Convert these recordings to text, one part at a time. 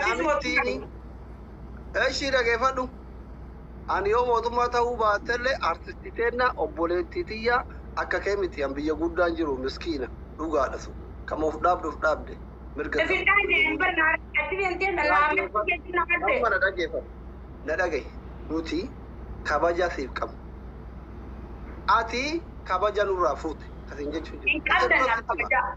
Namichiini ishii dhageeffadhu. Ani yoo mootummaa ta'uu baattellee artisti teenna obboleettii tiyya akka kee miti an biyya guddaan jiru miskiina dhugaadha sun. Kan of dhaabde of dhaabde mirga qabdi. Sifidhaan jeen barna achi deemtee na laamee jechuun na Amma qabde. na dhageeffadhu. Na dhagahi. Nuti kabaja siif qabna. Ati kabaja nurraa fuute. Asiin jechuun Hin qabdan na kabajaa.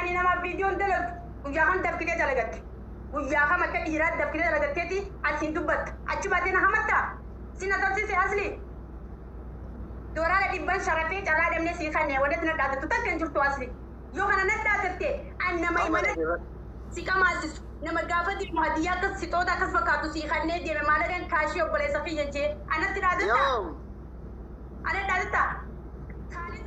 Ani namaaf viidiyoon dalagu guyyaa kam dafqitee dalagatte? Guyyaa kam akka dhiiraa dafqitee dalagatteeti asiin dubbatta? Achi baatee na hamatta? Sin asansise Asli? Doolaara dhibban sharafee carraa dhabnee sii kanne wanatti nadhaadattu takka hin jirtu Asli. Yoo kana nadhaadatte an nama imana si qamaasisu nama gaafa deemu hadiyyaa akkas sixoota akkas fakkaatu sii kannee deeme maalagan kaashii obboleessa kiyya jee anatti dhaadatta? Yoom? Anatti dhaadatta? Kaalid.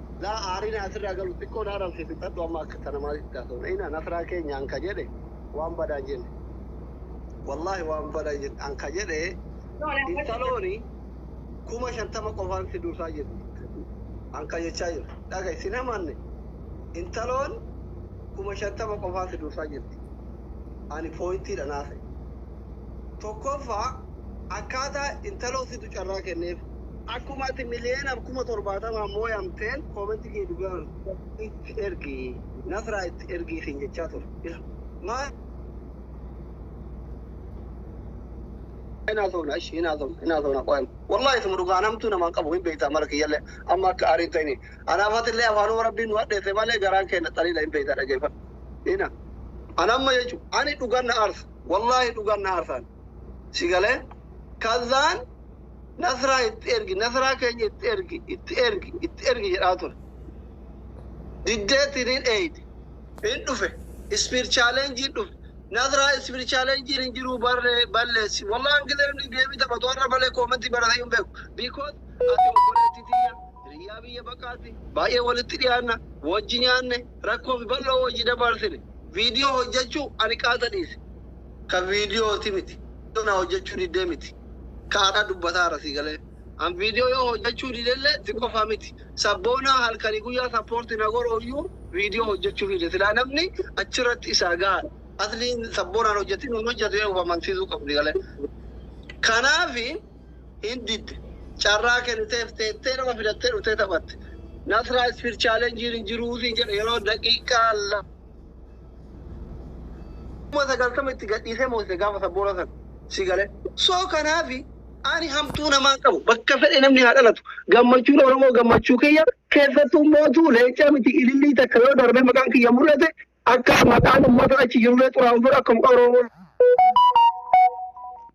Laa aariin haa sirraa galu xiqqoo na arabse fixadhu amma akka tana maaliif itti haasofna ina nasraa keenya an ka jedhe waan badaan jenne wallaahi waan badaan jenne an ka jedhe intalooni kuma shantama qofaan si dursaa jirti an ka jechaa jiru dhaga isin hamanne intaloon kuma shantama qofaan si dursaa jirti ani pooyintiidha naase tokkoffaa akkaataa intaloo situ carraa kenneef Akkuma ati miliyoona 70,000n mooyamteen comment kee dhugaa itti ergi nasraa itti ergii siin jechaa ture. Ila maa hin haasofna ashi hin haasofna hin haasofna qoyam. Wallahi suma dhugaa namtuu namaan qabu hin beektaa mara kiyyallee amma akka aarii hin ta'ini. Anaaf atillee afaanuma rabbiin nu hadheesse malee garaan keenya xaliila hin beektaa dhageeffadhu. Ina an amma jechu ani dhugaan na aarsa wallahi dhugaan na aarsaan si galee kazzaan Nasraa itti ergi, Nasraa keenya itti ergi, itti ergi, itti ergi jedhaa ture. Diddeetti ni dheeyde. Hin dhufe. Ispiir chaalenjiin dhufe. Nasraa ispiir chaalenjiin hin jiruu barree balleessi. Wallah hangilee inni geemii taphatu har'a malee koomentii baratee hin beeku. Because ati obboleettii tiyya, hiriyyaa biyya baqaati, baay'ee walitti dhiyaanna, wajji nyaanne, rakkoo fi bal'oo wajji dabaarsine. Viidiyoo hojjachuu ani qaata dhiise. Ka viidiyooti miti. Viidiyoo naa hojjachuu diddee miti. ka araa dubbataa irra sii galee. An video yoo hojjachuu didelle si qofa miti. Sabboonaa halkani guyyaa support na godhooyyuu video hojjachuu dide. Silaa namni achirratti isaa gahaadha. Asliin sabboonaan hojjatti nuun hojjatu jedhe of amansiisuu qabu sii galee. Kanaafi hin didde. Carraa kenniteef teettee nama fidattee dhuftee taphatte. Nasraa speed challenge hin jiruu siin jedhe yeroo daqiiqaa kuma sagaltama itti gadhiisee moosise gaafa sabboora sana si gale soo kanaafi ani hamtuu namaa hin qabu bakka fedhe namni haa dhalatu gammachuun oromoo gammachuu kiyya keessattuu mootuu leencaa miti ilillii takka yoo darbee maqaan kiyya mul'ate akka maqaan ummata achi jirullee xuraa'uun fedhu akka maqaa oromoo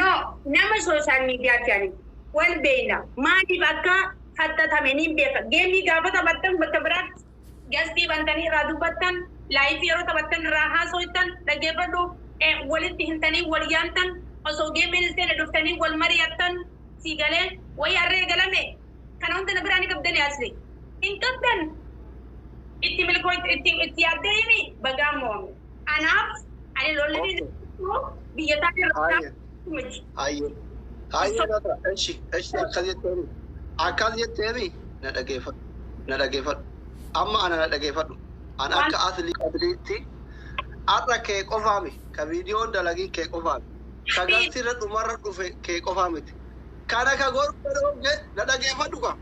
No nama social media ti ani wal beeyna maaliif akka haxxaxame niin beeka game gaafa taphattan bakka biraatti guest bantanii irraa dubbattan live yeroo taphattan irraa haasoytan dhaggeeffadhu walitti himtanii wal yaamtan osoo game hin seene dhuftanii wal mari'attan sii galee wayii arra eegalame kana hunda na biraa ni qabdani asli hin qabdan itti milkooytu itti itti yaaddee himi bagaa mo'ame. Kanaaf ani lolli Okay. dinagdee biyya isaa irraa Haayya. miti. Haayya. Haayya laata. Eshi. Eshi akkas jetteemi. Akkas jetteemi. Na dhageeffadhu. Na dhageeffadhu. Amma ana na dhageeffadhu. An Waan- akka atlii atliitti har'a kee qofaa miti. Ka viidiyoon dalagii kee qofaa miti. Ka garsirra dhumarra dhufe kee qofaa miti. Kana ka godhu jedhu na dhageeffadhu kaa.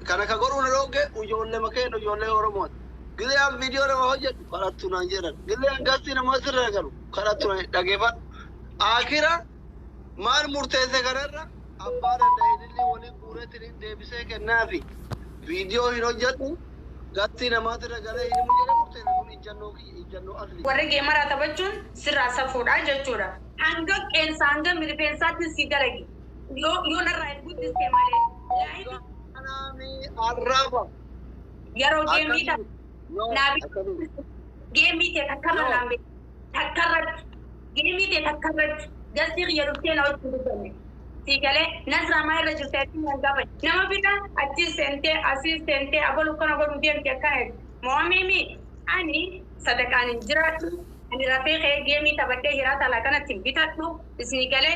Kana ka godhuu na dhoogge ijoollema keenna ijoollee Oromooti. Gizee an viidiyoo namaa hojjadhu kadhattu naan jedhan. Gizee an gastii namaa sirra naqadhu kadhattu naan jedhan. Dhageeffadhu. Aakhira maal murteesse kana irra abbaa danda'e idilli wali guureetiin deebisee kennaafi. Viidiyoo hin hojjadhu gastii namaa sirra galee hin himu jedhee murteesse kun ijjannoo kiyya ijjannoo asliiti. Warri geemaraa taphachuun sirraa safuudha jechuudha. Hanga qeensa hanga mirifeensaattin sii dalagi. Yoo yoo narraa hin guddiste malee. Laayikii Kanaami arraba. yeroo geemmii Akkamiin? takka Yoo Naabi- akkamiin? geemmii tee takka irra Yoo. naan beeku. Takka irratti. Geemmii tee takka irratti. Gastii kiyya dhuftee na wajjin dubbanne. Sii galee nasraa maa irra jirte achiin nan gaafa. Nama bira achiis seentee asiis seentee abalu kana godhuu deemte akkana jedhe. Mo'amimi ani sadaqaan hin jiraadhu. Ani rafee ka'ee geemii taphadhee hiraa talaa kanatti hin bitadhu. Isni galee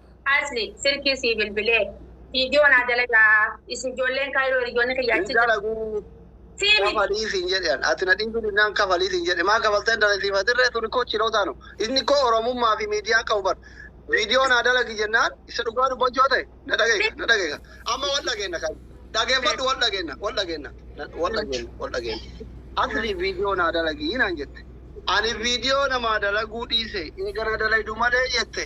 Asli silkii sii bilbilee. Video naa dalagaa isin ijoolleen kaayiroo hiriyoonni kiyya Hin achi jiran. dalaguu Sii miti. kafalii siin jedhe an ati na dhiisu dinnaan kafalii siin jedhe maa kafaltee hin dalagsiif atirree tuni koo chilootaa nu inni koo oromummaa fi miidiyaan qabu bar viidiyoo naa dalagi jennaan isa dhugaa dubbachoo ta'e na dhageeka na dhageeka amma wal dhageenna kan dhageeffadhu wal dhageenna wal dhageenna na- wal dhageenna wal dhageenna asli viidiyoo naa dalagii naan jette ani viidiyoo namaa dalaguu dhiise eegana dalaydu malee jette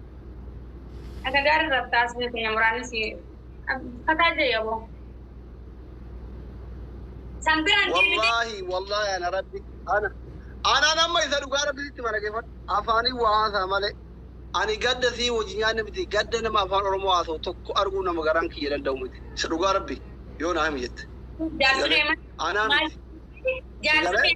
Akka gaarii irratti taasifne keenya muraanni si fataa jee yaboo. San biraan deemite wallaahi wallaahi ana rabbi ana anaan amma isa dhugaa rabbi sitti malageeffadha afaanii waa haasaa malee ani gadda sii wajji nyaanne miti gadda nama afaan oromoo haasa'u tokko arguu nama garaan kiyya danda'u miti isa dhugaa rabbi yoo naa himi jette jaarsi kee anaa maal miti jaarsi kee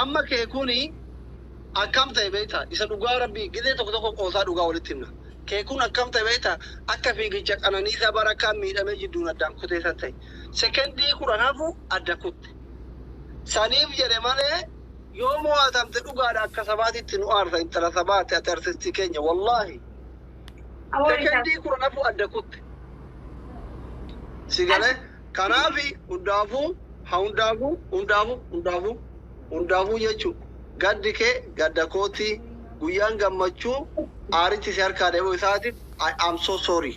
Amma kee kuni akkam ta'e beekta? Isa dhugaa Rabbii gizee tokko tokko qoosaa dhugaa walitti himna. Kee kun akkam ta'e beekta? Akka fiigicha Qananiisaa Barakkaan miidhamee jidduun addaan kutee san ta'e. Sekendii kudhan hafu adda kutte. Saniif jedhe malee yoo mo'atamte dhugaadha akka sabaatitti nu aarsa intala sabaati ati artistii keenya wallaahi. Sekendii kudhan hafu adda kutte. Si galee? Kanaafi hundaafuu, ha hundaafuu, hundaafuu, hundaafuu, hundaafuu jechu gaddi kee gadda kooti, guyyaan gammachuu aaritti si harkaa deemuu isaatiif I am so sorry.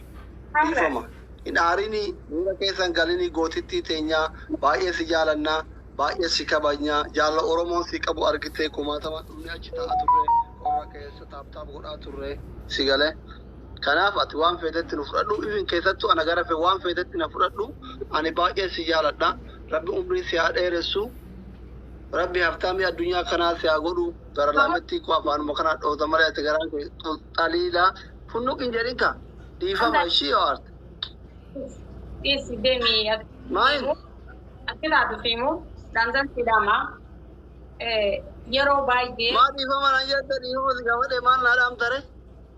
Dhiifama. Hin aarinii, miira keessa hin galinii gootittii teenya, baay'ee si jaalanna, baay'ees si kabajna, jaalala Oromoon si qabu argitee kumaatamaan dhumnee achi taa'a turre, qorra keessa taap taap godhaa turre. Si galee? Kanaaf ati waan feetetti nu fudhadhu even keessattu ana gara fe waan feetetti na fudhadhu ani baay'een si jaaladha rabbi umrii si haa dheeressu rabbi haftaamii addunyaa kanaa si haa godhu gara laamettii koo afaanuma kana dhoota malee ati garaan kee xul- xaliila funnuq hin jedhin ka dhiifama ishii yoo arte Dhiisi deemii ati. Maal? Achirraa dhufiimu daanzan sidhama. Yeroo baay'ee. maa dhiifama naan jette dhiifama si gaafadhe maal naa dhaamtare